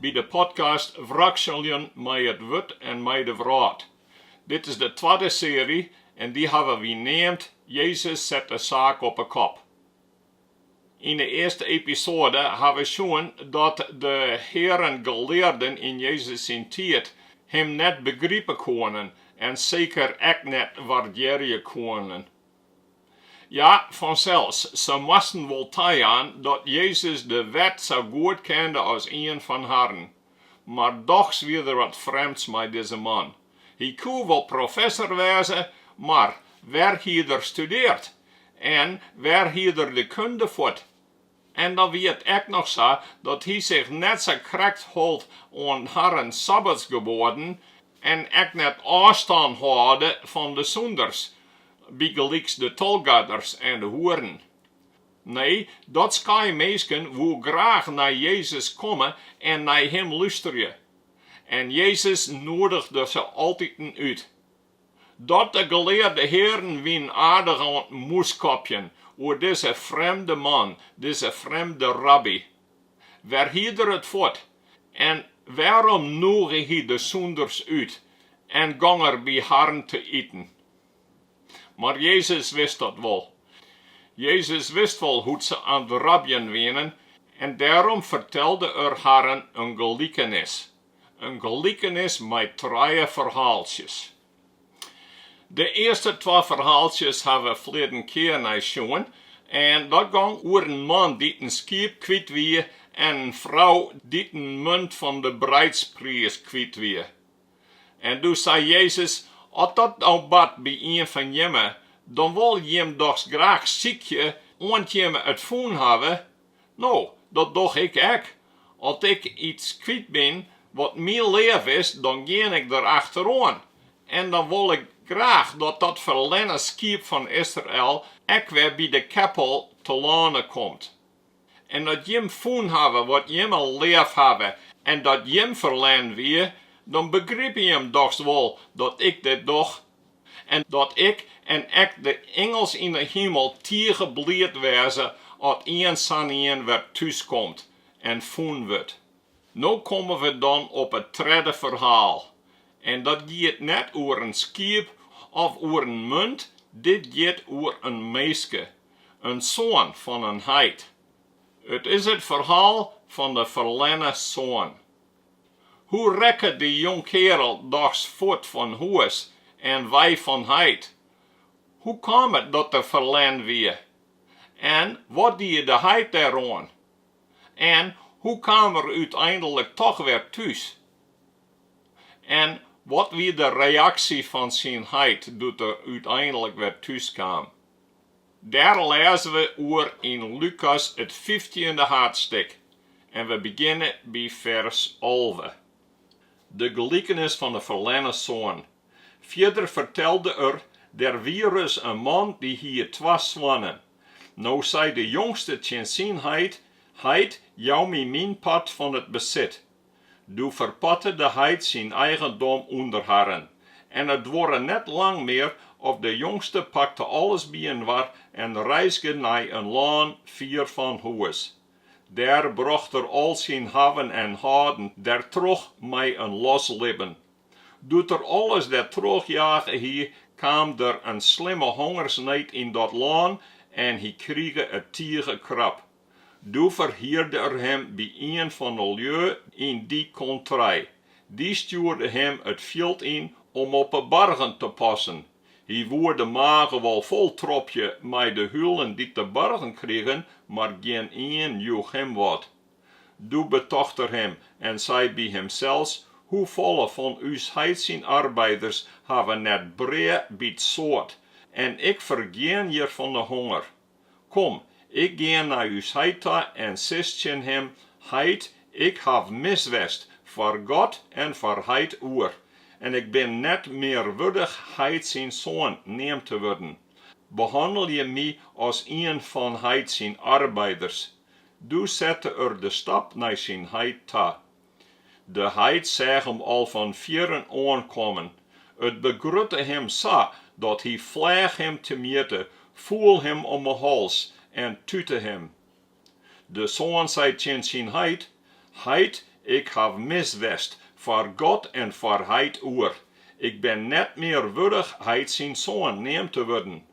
by de podcast Wrakseljen mei it wurd en mei de wrâld. Dit is de twadde searje en dy hawwe wy neamd Jezus set de saak op 'e kop. Yn de earste episoade ha we sjoen dat de hearen gelearden yn Jezus syn tiid him net begripe koenen en seker ek net waardearje koenen. Ja, fansels, se moasten wol tajaan dat Jezus de Wet sa goed kende as ien fan harren. Mar dochs wie der wat frjemds mei dizze man. Hy koe wol professer wêze, mar wêr hied er studeard en wêr hied er de kunde fuort? En dan wie it ek noch sa dat hy sich net sa krekt hold oan harren sabbatsgeboaden en ek net ôfstân hâlde fan de sûnders, bygelyks de tolgarders en de hoeren. Nee, dat skaai minsken woe graach nei Jezus komme en nei him lústerje. En Jezus noedigde se altiten út. Dat de gelearde hearen wienen aardich oan 't mûskopjen oer dizze frjemde man, dizze frjemde rabby. Wêr hied er it fuort? En wêrom nûge hy de sûnders út en gong er by harren te iten? Mar Jezus wist dat wol. Jezus wist wol hoe't se aan 't rabjen wienen en dêrom fertelde er harren in gelikenis. in gelikenis mei trije ferhaaltsjes. De earste twa ferhaaltsjes ha we ferleden kear nei sjoen en dat gong oer in man dy't in skiep kwyt wie en in frou dy't in munt fan de breidspriis kwyt wie. En doe sei Jezus, As dat no bart by ien fan jimme, dan wol jim dochs graach sykje oant jimme it fûn hawwe. No, dat doch ik ek. As ik iets kwyt bin wat my leaf is, dan gean ik der achter oan. En dan wol ik graach dat dat ferlerne skiep fan Israel ek wer by de keppel telâne komt. En as jim fûn hawwe wat jimme leaf hawwe en dat jim ferlern wie, dan begripe jim dochs wol dat ik dit doch En dat ik en ek de ingels yn 'e himel tige bliid wêze at ien sa'n ien wer thús komt en fûn wurdt. No komme we dan op it tredde ferhaal. En dat giet net oer in skiep of oer in munt, dit giet oer in minske, in soan fan in heit. It is it ferhaal fan de ferlerne soan. Hoe rekke dy jongkeardel dochs fuort fan hûs en wei fan heit? Hoe kaam it dat er ferlern wie? En wat die de heit dêr oan? En hoe kaam er úteinlik toch wer thús? En wat wie de reaksje fan syn heit doe't er úteinlik wer thús kaam? Dêr lêze we oer yn Lukas it fyftiende haadstik en we begjinne by fers alve. De gelikenis fan 'e ferlerne soan. Fierder fertelde er, Der wie ris in man dy hie twa soannen. No sei de jongste tsjin syn heit, Heit, jou my myn part fan it besit. Doe ferparte de heit syn eigendom ûnder harren, en it duorre net lang mear of de jongste pakte alles byinoar en reizge nei in lân fier fan hûs. Dêr brocht er al syn hawwen en hâlden der troch mei in los libben. Doe't er alles der trochjage hie, kaam der in slimme hongersneed yn dat lân en hy krige it tige krap. Doe ferhierde er him by ien fan 'e lju yn dy kontrij. Dy stjoerde him it fjild yn om op 'e bargen te passen. Hy woe de mage wol foltropje mei de hulen dy't de bargen krigen, mar gjin ien joech him wat. Doe betocht er him en sei by himsels, Hoefolle fan ús heit syn arbeiders hawwe net brea by 't soad, en ik fergean hjir fan 'e honger. Kom, ik gean nei ús heit ta en sis tsjin him, Heit, ik haw mis west foar God en foar heit oer, en ik bin net mear wurdich heit syn soan neamd te wurden. Behannelje my as ien fan heit syn arbeiders. Doe sette er de stap nei syn heit ta. De heit seach him al fan fierren oankommen. It begrutte him sa dat hy fleach him temjitte, foel him om 'e hals en tute him. De soan sei tsjin syn heit, Heit, ik haw mis west foar God en foar heit oer. Ik bin net mear wurdich heit syn soan neamd te wurden.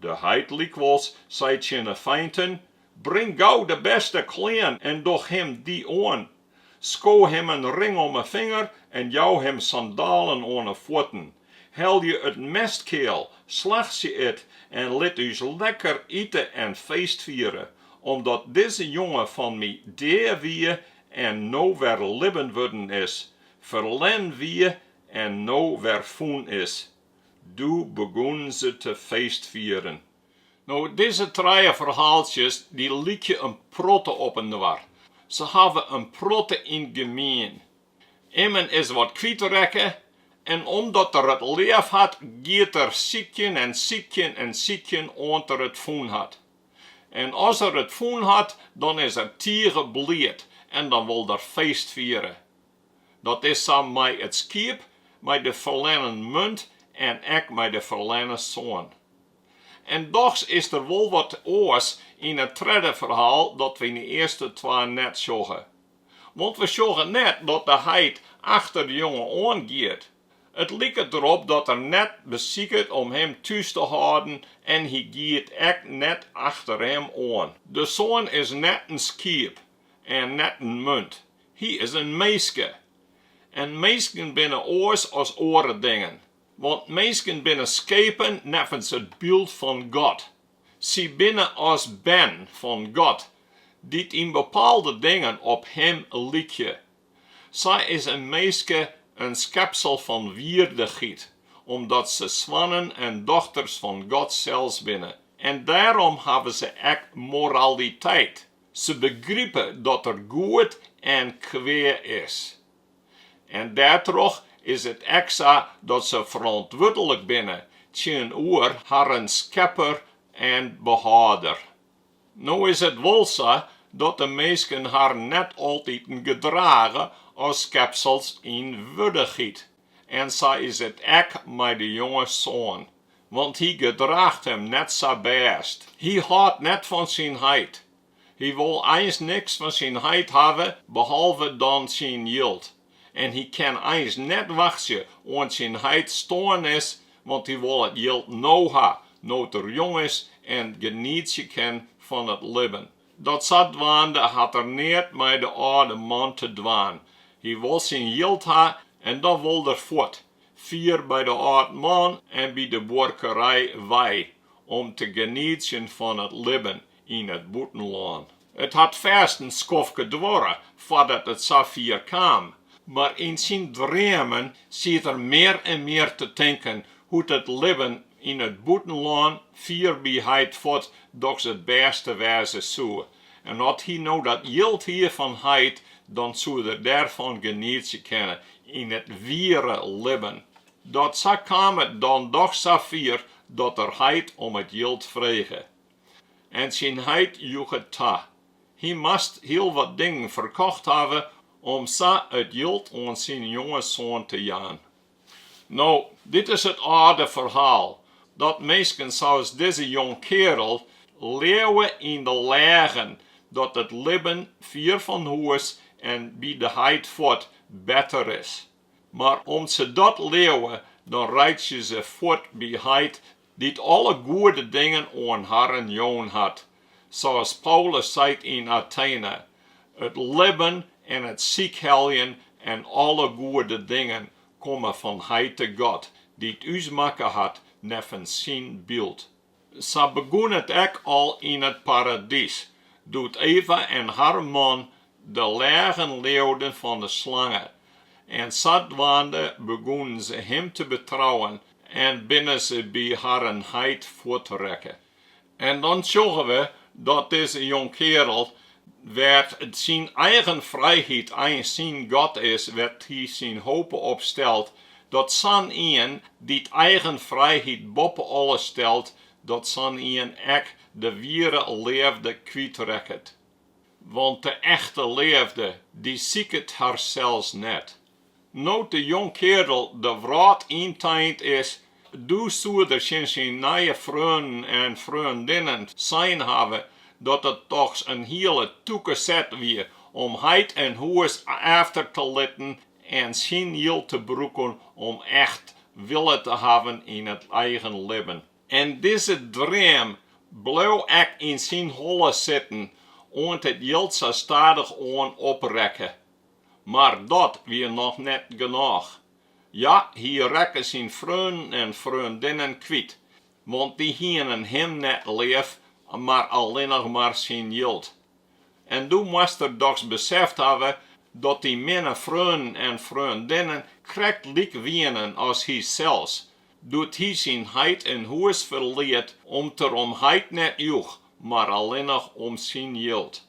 De heit lykwols sei tsjin 'e feinten, Bring gau de bêste klean en doch him dy oan. Sko him in ring om 'e finger en jou him sandalen oan 'e fuotten. Helje it mestkeal, slachtsje it en lit ús lekker ite en feestfiere, omdat dizze jonge fan my dea wie en no wer libben wurden is, ferlern wie en no wer fûn is. Doe begûnen se te feestfieren. No, dizze trije ferhaaltsjes dy lykje in protte op inoar. Se hawwe in protte yn gemien. Immen is wat kwyt rekke en omdat er it leaf hat, giet er sykjen en sykjen en sykjen oant er it fûn hat. En as er it fûn hat, dan is er tige bliid en dan wol er feestfiere. Dat is sa mei it skiep mei de ferlennen munt en ek mei de ferlennen soan. En dochs is der wol wat oars yn it tredde ferhaal dat we yn de earste twa net sjogge. Want we sjogge net dat de heit achter de jonge oan giet. It liket derop dat er net besiket om him thús te hâlden en hy giet ek net achter him oan. De soan is net in skiep en net in munt, Hy is in minske. En minsken binne oars as oare dingen, want minsken binne skepen neffens it byld fan God. Sy binne as bern fan God, dy't yn bepaalde dingen op Him lykje. Sa is in minske in skepsel fan wierdichheid, omdat se soannen en dochters fan God sels binne, en dêrom hawwe se ek moraliteit. Se begripe dat der goed en kwea is. En dêrtroch is it ek sa dat se ferantwurdlik binne tsjinoer harren Skepper en Behâlder. No is it wol sa dat de minsken harren net altiten gedrage as skepsels yn wierdichheid. En sa is it ek mei de jonge soan, want hy gedraacht him net sa bêst. Hy hâldt net fan syn heit. Hy wol eins niks fan syn heit hawwe, behalve dan syn jild. En hy kin eins net wachtsje oant syn heit stoarn is, want hy wol it jild no ha, no't er jong is en genietsje kin fan it libben. Dat sa dwaande hat er neat mei de âlde man te dwaan. Hy wol syn jild ha en dan wol er fuort, fier by de âld man en by de buorkerij wei om te genietsjen fan it libben yn it bûtenlân. It hat fêst in skoftke duorre foardat it sa fier kaam, mar yn syn dreamen siet er mear en mear te tinken hoe't it libben yn it bûtenlân fier by heit fuort dochs it bêste wêze soe. En as hy no dat jild hie fan heit, dan soe er dêrfan genietsje kinne yn it wiere libben. Dat sa kaam it dan dochs sa fier dat er heit om it jild frege. En syn heit joech it ta. Hy moat hiel wat dingen ferkocht hawwe om sa it jild oan syn jonge soan te jaan. No, dit is it âlde ferhaal, dat minsken sa's dizze jongkeardel leauwe yn de leagen dat it libben fier fan hûs en by de heit fuort better is. Mar om't se dat leauwe, dan reitsje se fuort by heit dy't alle goede dingen oan harren jûn hat, sa's Paulus seit yn Atene, It libben en it sykheljen en alle goede dingen komme fan Heite God, dy't ús makke hat neffens syn byld. Sa begûn it ek al yn it paradys, doe't Eva en har man de leagen leauden fan de slange, en sadwaande begûnen se him te betrouwen En binne se by harren heit fuort rekke. En dan sjogge we dat dizze jongkeardel, wêr't syn eigen frijheid eins syn god is, wêr't hy syn hope op stelt, dat sa'n ien, dy't eigen frijheid boppe alles stelt, dat sa'n ien ek de wiere leafde kwyt rekket. Want de echte leafde, dy siket harsels net. No't de jongkeardel de wrâld yn tein is, doe soe er tsjin syn nije freonen en freondinnen sein hawwe dat it dochs in hiele tûke set wie om heit en hûs efter te litten en syn jild te brûken om echt wille te hawwen yn it eigen libben. En dizze dream bleau ek yn syn holle sitten, oant it jild sa stadichoan oprekke. Mar dat wie noch net genôch. Ja, hy rekke syn freonen en freondinnen kwyt, want dy hienen him net leaf, mar allinnich mar syn jild. En doe moast er dochs beseft hawwe dat dy minne freonen en freondinnen krekt lyk wienen as hysels, doe't hy syn heit en hûs ferliet om't er om heit net joech, mar allinnich om syn jild.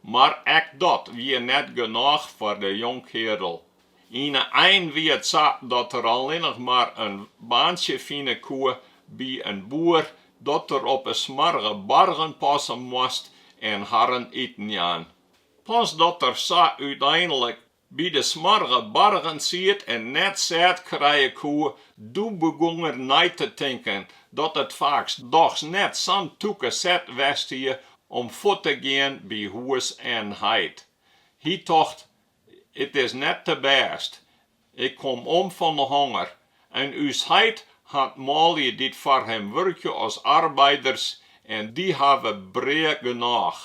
Mar ek dat wie net genôch foar de jongkeardel. Yn 'e ein wie it sa dat er allinnich mar in baantsje fine koe by in boer dat er op 'e smoarge bargen passe moast en harren iten jaan. Pas dat er sa úteinlik By de smoarge bargen siet en net sêd krije koe, doe begûn er nei te tinken dat it faaks dochs net sa'n tûke set west hie om fuort te gean by hûs en heit. Hy tocht, it is net te bêst, ik kom om fan de honger en ús heit hat manlju dy't foar him wurkje as arbeiders en dy hawwe brea genôch.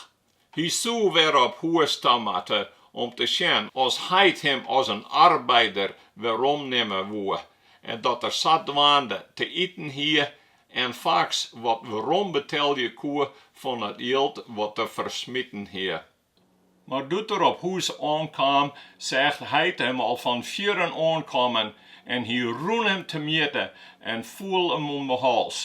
Hy soe wer op hûs ta moatte om te sjen as heit him as in arbeider weromnimme woe en dat er sadwaande te iten hie en faaks wat werombetelje koe fan it jild dat er fersmiten hie. Mar doe't er op hûs oankaam, seach heit him al fan fierren oankommen en hy rûn him temjitte en foel him om 'e hals.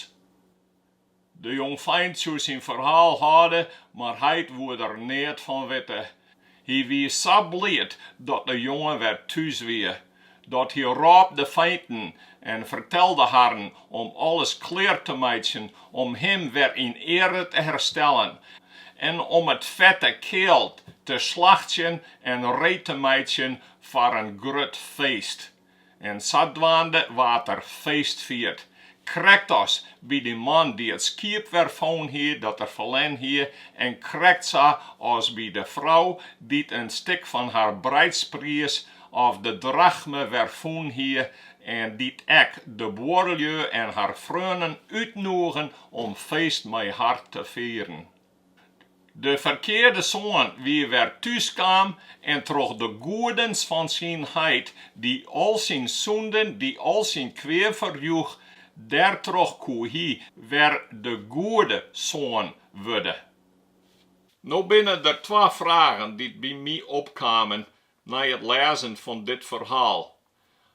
De jongfeint soe syn ferhaal hâlde, mar heit woe der neat fan witte. Hy wie sa bliid dat de jonge wer thús wie, dat hy rôp de feinten en fertelde harren om alles klear te meitsjen om him wer yn eare te herstellen en om it fette kealt te slachtsjen en reed te meitsjen foar in grut feest. en sadwaande waard der feest fierd. Krekt as by dy man dy't it skiep wer fûn hie dat er ferlern hie, en krekt sa as by de frou dy't in stik fan har breidspriis of de drachme wer fûn hie, en dy't ek de buorlju en har freonen útnûge om feest mei har te fieren. De ferkearde soan wie wer thús kaam en troch de goedens fan syn heit, dy al syn sûnden, dy al syn kwea ferjoech, dêrtroch koe hy wer de goede soan wurde. No binne der twa fragen dy't by my opkamen nei it lêzen fan dit ferhaal.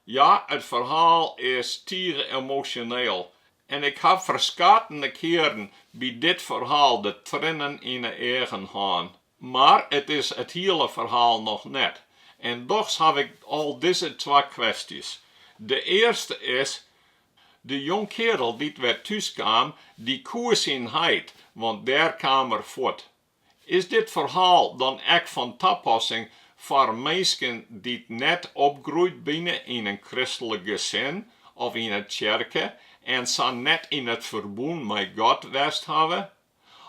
Ja, it ferhaal is tige emosjoneel En ik haw ferskate kearen by dit ferhaal de trinnen yn 'e eagen hân. Mar it is it hiele ferhaal noch net. En dochs haw ik al dizze twa kwestjes. De earste is, de jongkearel dy't wer thús kaam, dy koe syn heit, want dêr kaam er fuort. Is dit ferhaal dan ek fan tapassing foar minsken dy't net opgroeid binne yn in kristlik gesin of yn in tsjerke en sa net yn it ferbûn mei God west hawwe?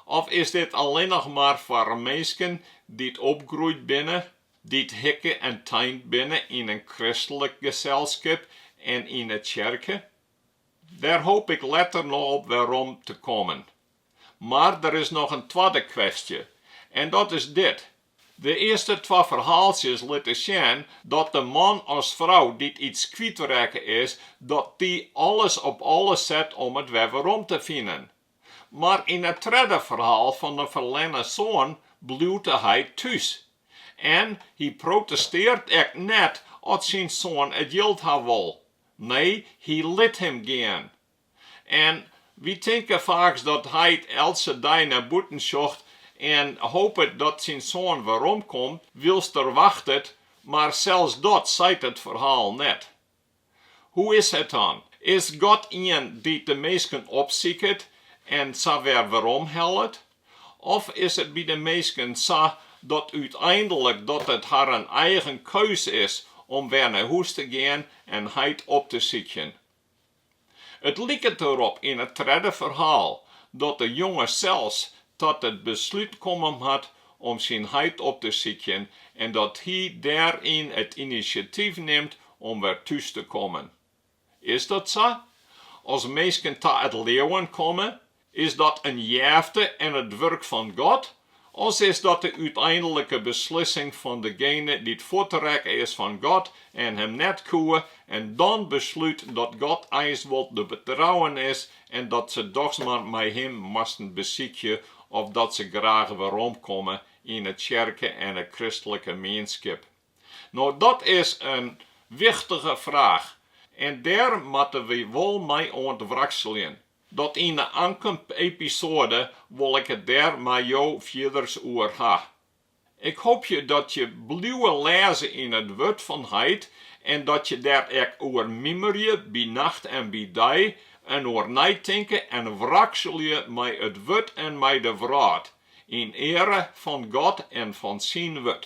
Of is dit allinne noch mar foar minsken dy't opgroeid binne, dy't hikke en tein binne yn in kristlik selskip en yn 'e tsjerke? Dêr hoop ik letter noch op werom te kommen. Mar der is noch in twadde kwestje en dat is dit, de earste twa ferhaaltsjes litte sjen dat de man as frou dy't iets kwyt rekke is, dat dy alles op alles set om it wer werom te finen. Mar yn it tredde ferhaal fan de ferlenne soan bliuwt heit thús en hy protestearret ek net as syn soan it jild ha wol. Nee, hy lit him gean. En wy tinke faaks dat heit eltse dei nei bûten sjocht en hopet dat syn soan weromkomt wylst er wachtet, mar sels dat seit it ferhaal net. Hoe is it dan? Is God ien dy't de minsken opsiket en sa wer weromhellet? Of is it by de minsken sa dat úteinlik dat it harren eigen keus is om wer nei hûs te gean en heit op te sykjen? It liket derop yn it tredde ferhaal dat de jonge sels ta it beslút komme moat om syn heit op te sykjen en dat hy dêryn it inisjatyf nimt om wer thús te kommen. Is dat sa? As minsken ta it leauwen komme, Is dat in jefte en it wurk fan God, as is dat de úteinlike beslissing fan degene dy't fuortrekken is fan God en Him net koe en dan beslút dat God eins wol te betrouwen is en dat se dochs mar mei Him moasten besykje of dat se graach weromkomme yn 'e tsjerke en de kristlike mienskip? No, dat is in wichtige fraach en dêr moatte wy wol mei oan it wrakseljen. Dat yn 'e oankommende episoade wol ik it dêr mei jo fierders oer ha. Ik hoopje dat je bliuwe lêze yn it Wurd fan heit en dat je dêr ek oer mimerje by nacht en by dei en oer neitinke en wrakselje mei it Wurd en mei de fraach, yn eare fan God en fan Syn Wurd.